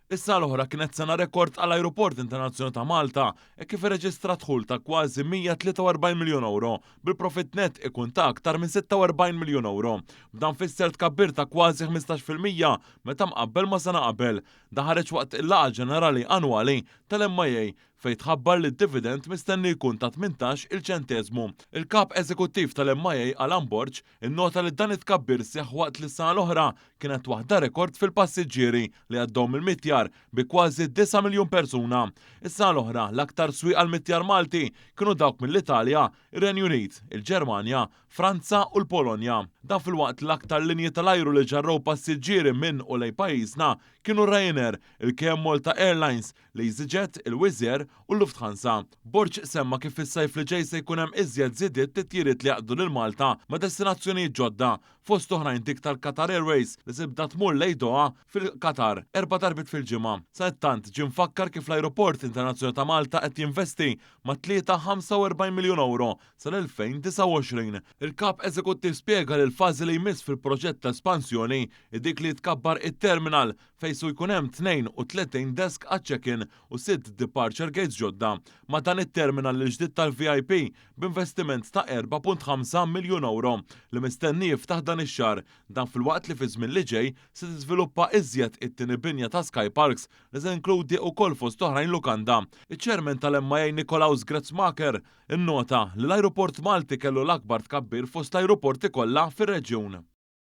Is-sena l-oħra kienet sena rekord għall-Ajruport Internazzjonali ta' Malta hekk kif irreġistra dħul ta' kważi 143 miljun ewro, bil-profitt nett ikun ta' aktar minn 46 miljun ewro. B'dan fisser tkabbir ta' kważi ħmistax fil-mija meta mqabbel ma' sena qabel. Dan ħareġ waqt il-laqgħa ġenerali annwali tal-MIA fejn tħabbar li d-dividend mistenni jkun ta' tmintax-il ċenteżmu. Il-Kap Eżekuttiv tal-MIA Alan Borg Innota li dan it-tkabbir seħħ waqt li s-sena l-oħra kienet waħda rekord fil-passiġġieri li għaddew mill-Mittjar bi kważi disa' miljun persuna. Is-sena l-oħra l-aktar swieq għall-Mittjar Malti kienu dawk mill-Italja, ir-Renju Unit, il-Ġermanja, Franza u l-Polonja. Dan filwaqt li l-aktar linji tal-ajru li ġarrew passiġġieri minn u lejn pajjiżna kienu Ryanair, il-KM Malta Airlines, L-easyjet, il-Wizz Air u l-Lufthansa. Borg semma kif fis-sajf li ġej se jkun hemm iżjed żidiet titjiriet li jgħaqqdu lil Malta ma' destinazzjonijiet ġodda, fost oħrajn dik tal-Qatar Airways li tibda tmur lejn Doha fil-Qatar erba' darbiet fil-ġimgħa. Sadattant, ġie mfakkar kif l-Ajruport Internazzjonali ta' Malta qed jinvesti mat-tlieta 45 miljun ewro sal-2029. Il-Kap Eżekuttiv spjega li l-fażi li jmiss fil-proġett ta' espansjoni hi dik li jitkabbar it-terminal fejn su jkun hemm 32 desk għaċ-check-in u sitt departure gates ġodda, ma' dan it-terminal il-ġdid tal-VIP b'investiment ta' 4.5 miljun ewro li mistenni jiftaħ dan ix-xahar, dan filwaqt li fiż-żmien li ġej se tiżviluppa iżjed it-tieni binja ta' Skyparks li se inkludi ukoll fost oħrajn lukanda. Iċ-Chairman tal-MIA Nikolaus Gressmaecker innota li l-ajruport Malti kellu l-akbar tkabbir fost l-ajruporti kollha fir-reġjun.